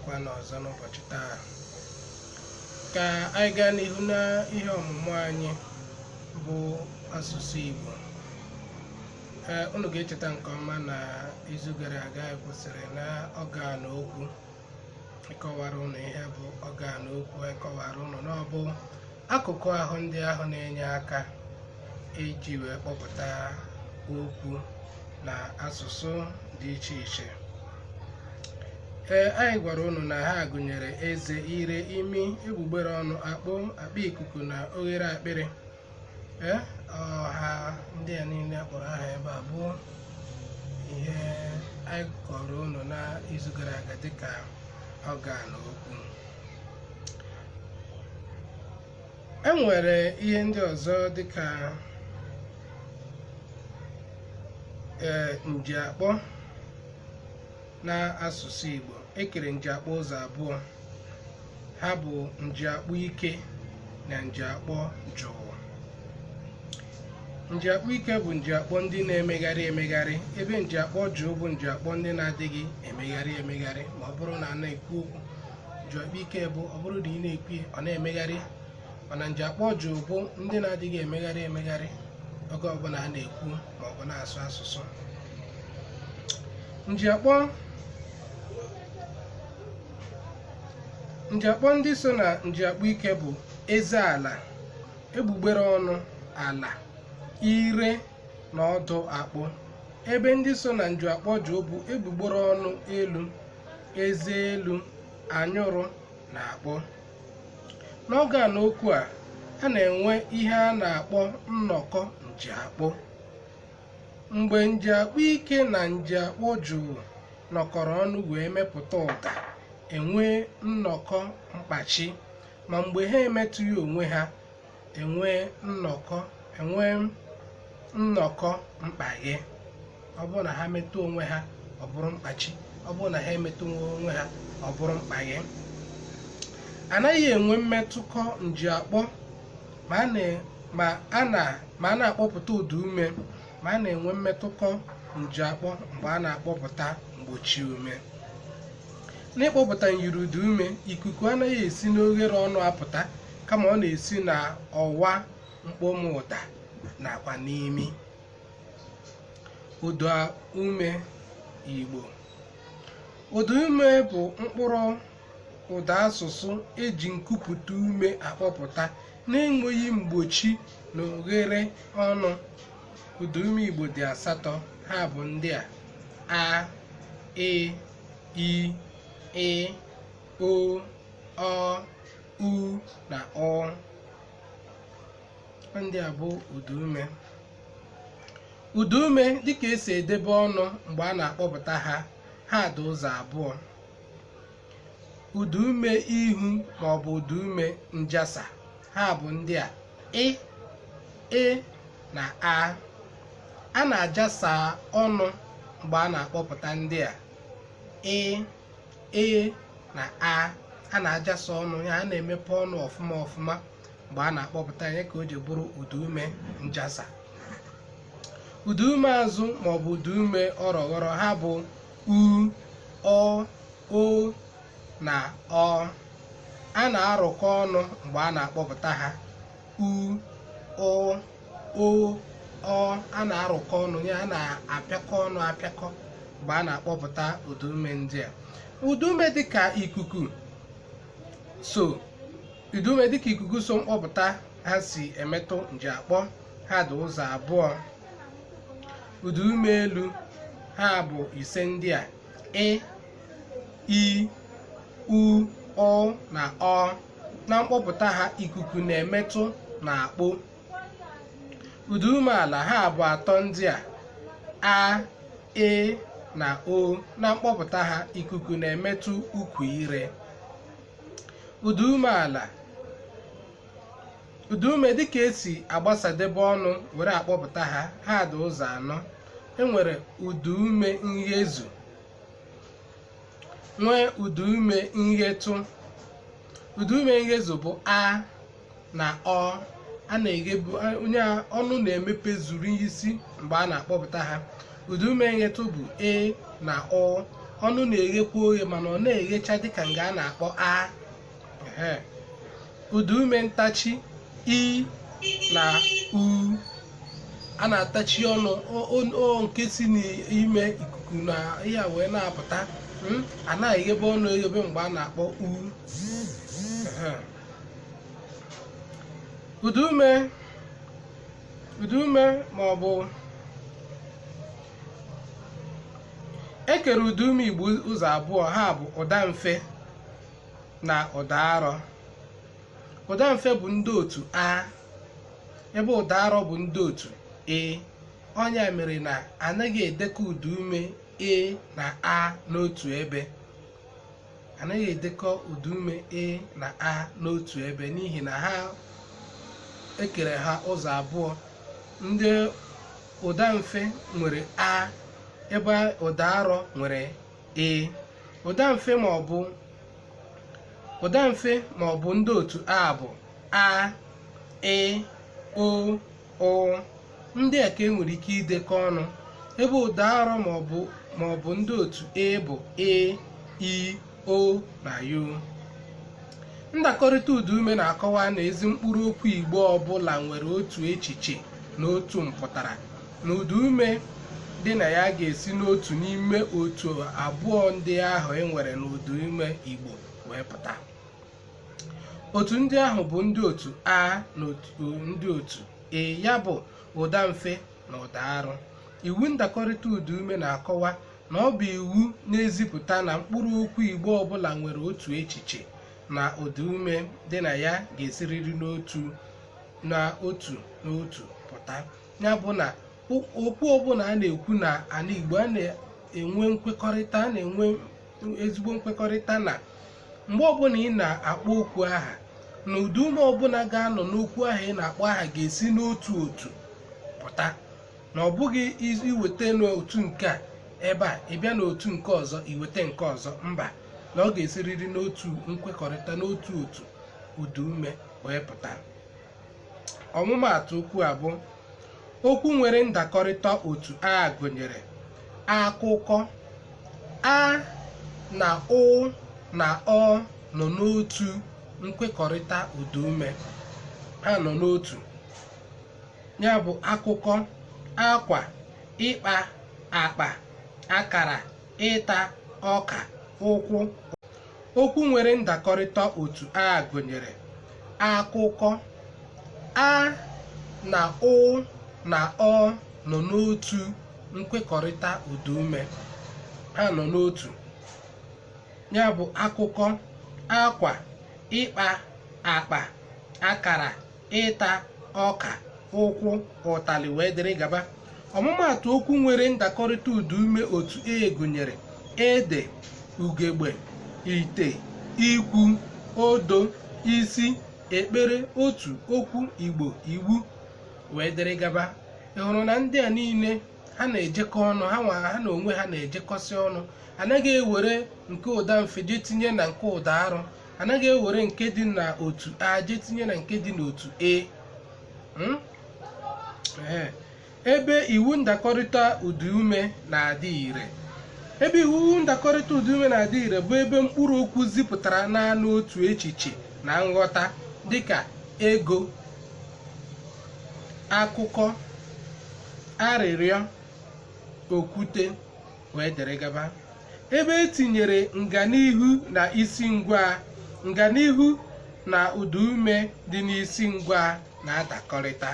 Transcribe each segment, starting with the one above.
kwa n'ọzọ n'ụbọchị taa ka anyị gaa n'ihu na ihe ọmụmụ anyị bụ asụsụ Igbo ee unu ga-echeta nke ọma na izu gara aga anyị kwụsịrị na ọgan okwu anyị kọwara unu ihe bụ ọgan okwu anyị kọwara unu na ọ bụ Akụkụ ahụ ndị ahụ na-enye aka iji wee kpọpụta okwu na asụsụ dị iche iche. Ee, anyị gwara unu na ha gụnyere eze, ire, imi, egbugbere ọnụ, akpo, akpa ikuku na oghere akpịrị. Ee, ọha ndị a niile a kpọrọ aha ebe a bụ ihe anyị kọrọ unu n'izu gara aga dịka ọgan okwu. e nwere ihe ndị ọzọ dịka ee njiakpọ na asụsụ Igbo e kere njiakpọ ụzọ abụọ ha bụ njiakpọ ike na njiakpọ jụụ njiakpọ ike bụ njiakpọ ndị na-emegharị emegharị ebe njiakpọ jụụ bụ njiakpọ ndị na-adịghị emegharị emegharị ma ọ bụrụ na a na-ekwu okwu njiakpọ ike bụ ọ bụrụ na ị na-ekwu ya, ọ na-emegharị mana njiakpọ jụụ bụ ndị na-adịghị emegharị emegharị oge ọbụla a na-ekwu ma ọ bụ na-asụ asụsụ njiakpọ njiakpọ ndị so na njiakpọ ike bụ eze ala egbugbere ọnụ ala ire na ọdụ akpo ebe ndị so na njiakpọ jụụ bụ egbugbere ọnụ elu eze elu anyụrụ na akpo n'ọgan okwu a a na-enwe ihe a na-akpọ nnọkọ njiakpọ mgbe njiakpọ ike na njiakpọ jụụ nọkọrọ ọnụ wee mepụta ụda e nwee nnọkọ mkpachi ma mgbe ha emetụghị onwe ha e nwee nnọkọ e nwee nnọkọ mkpaghe ọ bụrụ na ha metụ onwe ha ọ bụrụ mkpachi ọ bụrụ na ha emetụghị onwe ha ọ bụrụ mkpaghe a naghị enwe mmetụkọ njiakpọ ma a na- ma a na- ma a na-akpọpụta ụdaume ma a na-enwe mmetụkọ njiakpọ mgbe a na-akpọpụta mgbochiume n'ịkpọpụta nyiri ụdaume ikuku anaghị esi n'oghere ọnụ apụta kama ọ na-esi na ọwa mkpọmụ ụda nakwa n'imi ụda ume Igbo ụda ume bụ mkpụrụ ụda asụsụ eji nkupụta ume akpọpụta na-enweghị mgbochi na oghere ọnụ ụda ume Igbo dị asatọ ha bụ ndị a a e i ị o ọ u na ụ ndị a bụ ụdaume ụdaume dịka esi edebe ọnụ mgbe a na-akpọpụta ha ha dị ụzọ abụọ ụdaume ihu ma ọ bụ ụdaume njasa ha bụ ndị a i ị na a a na-ajasa ọnụ mgbe a na-akpọpụta ndị a ị e na a a na-ajasa ọnụ ya a na-emepe ọnụ ọfụma ọfụma mgbe a na-akpọpụta ya ka o ji bụrụ ụda ume njasa ụda ume azụ maọbụ ụda ume ọrọghọrọ ha bụ u ụ o na ọ a na-arụkọ ọnụ mgbe a na-akpọpụta ha u ụ o ọ a na-arụkọ ọnụ ya a na-apịakọ ọnụ apịakọ mgbe a na-akpọpụta ụdaume ndị a ụdaume dịka ikuku so ụdaume dịka ikuku so mkpọpụta ha si emetụ njiakpọ ha dị ụzọ abụọ ụdaume elu ha bụ ise ndị a i ị u ụ na ọ na mkpọpụta ha ikuku na-emetụ na akpo ụda ume ala ha bụ atọ ndị a a e na o na mkpọpụta ha ikuku na-emetụ ukwu ire ụda ume ala ụda ume dịka esi agbasadebe ọnụ were akpọpụta ha ha dị ụzọ anọ enwere ụda ume nghezu nwee ụdaume nghetụ ụdaume nghezu bụ a na ọ a na-eghebe ọnụ ya ọnụ na-emepe zuru isi mgbe a na-akpọpụta ha ụdaume nghetụ bụ e na o ọnụ na-eghekwa oghe mana ọ naghị eghecha dịka nga a na-akpọ a Ehe. ụda ume ntachi i na u a na-atachi ọnụ o- o- o nke si n'ime ikuku na ihe a wee na-apụta mm, a na-eghebe ọnụ eghebe mgbe a na-akpọ u Ehe. ụda ume ụda ume ma ọ bụ e kere ụda ume igbo ụzọ abụọ ha bụ ụda mfe na ụda arọ ụda mfe bụ ndị otu a ebe ụda arọ bụ ndị otu e ọ nya mere na anaghị edekọ ụda ume e na a n'otu ebe anaghị edekọ ụda ume e na a n'otu ebe n'ihi na ha e kere ha ụzọ abụọ ndị ụda mfe nwere a ebe ụda arọ nwere ee ụdamfe ma ọ bụ ndị otu a bụ a ị ọ ụ ndị a ka e nwere ike idekọ ọnụ ebe ụda arọ ma ọ bụ ndị otu e bụ e i o na u ndakọrịta ụda ume na-akọwa na ezi mkpụrụ okwu igbo ọbụla nwere otu echiche na otu mpụtara na ụda ume dị na ya ga-esi n'otu n'ime otu abụọ ndị ahụ e nwere n'ụda ume Igbo wee pụta otu ndị ahụ bụ ndị otu a na ndị otu e ya bụ ụda mfe na ụda arụ iwu ndakọrịta ụda ume na-akọwa na ọ bụ iwu na-ezipụta na mkpụrụ okwu Igbo ọbụla nwere otu echiche na ụda ume dị na ya ga-esiriri n'otu na otu n'otu pụta ya bụ na o- okwu ọbụla a na-ekwu na ala igbo a na-enwe nkwekọrịta a na-enwe ezigbo nkwekọrịta na mgbe ọbụla ị na-akpọ okwu aha na ụda ume ọbụla ga-anọ n'okwu aha ị na-akpọ aha ga-esi n'otu otu pụta na ọ bụghị iz- iweta n'otu nke a ebe a ị bịa n'otu nke ọzọ iweta nke ọzọ mba na ọ ga-esiriri n'otu nkwekọrịta n'otu otu ụda ume wee pụta ọmụmaatụ okwu a bụ okwu nwere ndakọrịta otu a gụnyere akụkọ a na ụ na ọ nọ n'otu nkwekọrịta ụdaume ha nọ n'otu ya bụ akụkọ akwa ịkpa akpa akara ịta ọka ụkwụ okwu nwere ndakọrịta otu a gụnyere akụkọ a na ụ na ọ nọ n'otu nkwekọrịta ụdaume ha nọ n'otu ya bụ akụkọ akwa ịkpa akpa akara ịta ọka ụkwụ ụtalị wee dịrị gaba ọmụmaatụ okwu nwere ndakọrịta ụda ume otu e gụnyere ede ugegbe ite ikwu odo isi ekpere otu okwu igbo iwu wee dịrị gaba ị hụrụ na ndị a niile ha na-ejekọ ọnụ ha nwa ha na onwe ha na-ejekọsị ọnụ anaghị ewere nke ụda mfe jee tinye na nke ụda arụ anaghị ewere nke dị na otu a jee tinye na nke dị n'otu e Mm? Ee. ebe iwu ndakọrịta ụdaume na-adị ire ebe iwu ndakọrịta ụdaume na-adị ire bụ ebe mkpụrụ okwu zipụtara naanị otu echiche na nghọta dịka ego akụkọ arịrịọ okwute wee dịrị gaba ebe e tinyere nganihu na isi ngwaa nganihu na ụda ume dị n'isi ngwaa na-adakọrịta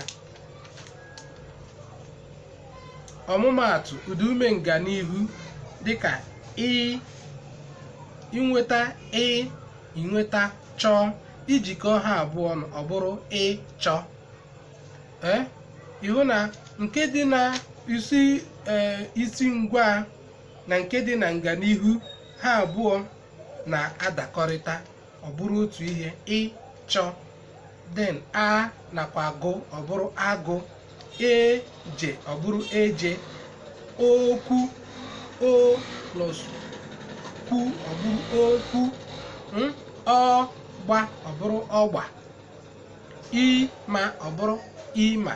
ọmụmaatụ ụda ume nganihu dịka ị i nweta ị i nweta chọọ i jikọ ha abụọ ọnụ ọ bụrụ ịchọ ee ị hụ na nke dị na isi ee isi ngwaa na nke dị na nganihu ha abụọ na-adakọrịta ọ bụrụ otu ihe ịchọ then a nakwa gụ ọ bụrụ agụ e je ọ bụrụ eje okwu o plus kwu ọ bụrụ okwu mm, ọ gba ọ bụrụ ọgba ị ma ọ bụrụ ịma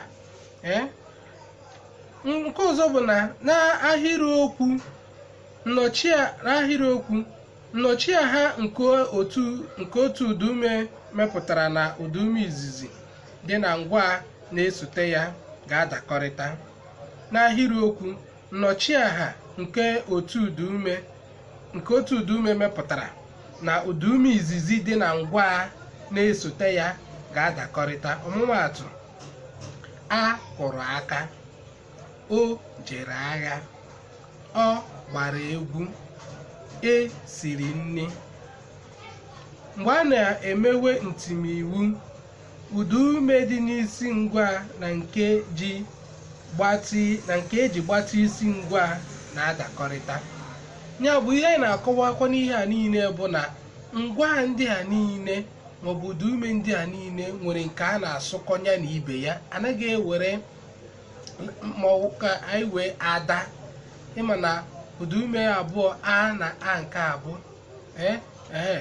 ee nke ọzọ bụ na n'ahịrịokwu nnọchia n'ahịrịokwu nnọchiaha nke otu nke otu ụdaume mepụtara na ụdaume izizi dị na ngwaa na-esote ya ga-adakọrịta n'ahịrịokwu nnọchiaha nke otu ụdaume nke otu ụdaume mepụtara na ụdaume izizi dị na ngwaa na-esote ya ga-adakọrịta ọmụmaatụ a kụrụ aka o jere agha ọ gbara egwu e siri nri mgbe a na-emewe ntimiwu Ụdaume dị n'isi ngwaa na nke ji gbatị na nke e ji gbatị isi ngwaa na-adakọrịta. Ya bụ ihe anyị na-akọwakwa n'ihe a niile bụ na ngwaa ndị a niile maọbụ ụdaume ndị a niile nwere nke a na-asụkọ ya na ibe ya anaghị ewere maọbụ ka anyị were ada ị ma na ụdaume abụọ a na a nke abụọ ee ee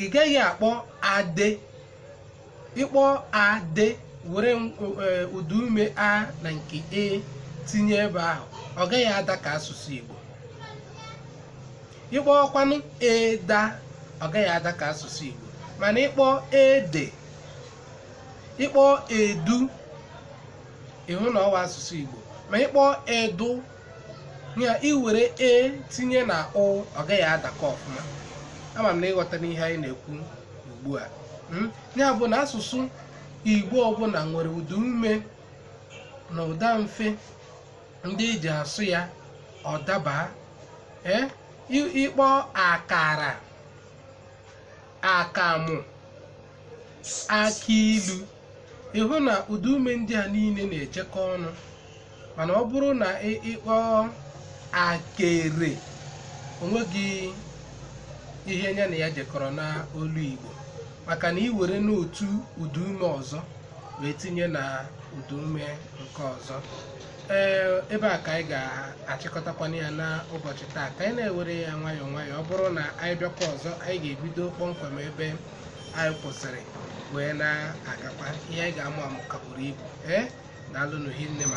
ị gaghị akpọ ade ịkpọ ade were ụda ume a na nke e tinye ebe ahụ ọ gaghị ada ka asụsụ Igbo ịkpọọ kwanụ eda ọ gaghị ada ka asụsụ Igbo mana ịkpọ ede ịkpọ edu ịhụ na ọ wụ asụsụ Igbo ma ịkpọ edu ya iwere e tinye na o ọ gaghị adakọ ọfụma ama m na ịghọtara ihe anyị na-ekwu ugbu a Mm? ya bụ na asụsụ igbo ọbụla nwere ụda ume na ụda mfe ndị eji asụ ya ọ daba ee i- ịkpọ akara akamụ akị ilu ịhụ na ụda ume ndị a niile na-ejekọ ọnụ mana ọ bụrụ na ị ịkpọ akere onweghị ihe ya na ya jekọrọ na olu igbo maka na iwere n'otu ụda ume ọzọ wee tinye na ụda ume nke ọzọ ee ebe a ka anyị ga-achịkọtakwana ya n'ụbọchị taa ka anyị na-ewere ya nwayọọ nwayọọ ọ bụrụ na anyị bịakwa ọzọ anyị ga-ebido kpọmkwem ebe anyị kwụsịrị wee na-agakwa ihe anyị ga-amụ amụ ka buru ibu ee daalụnụ hinne ma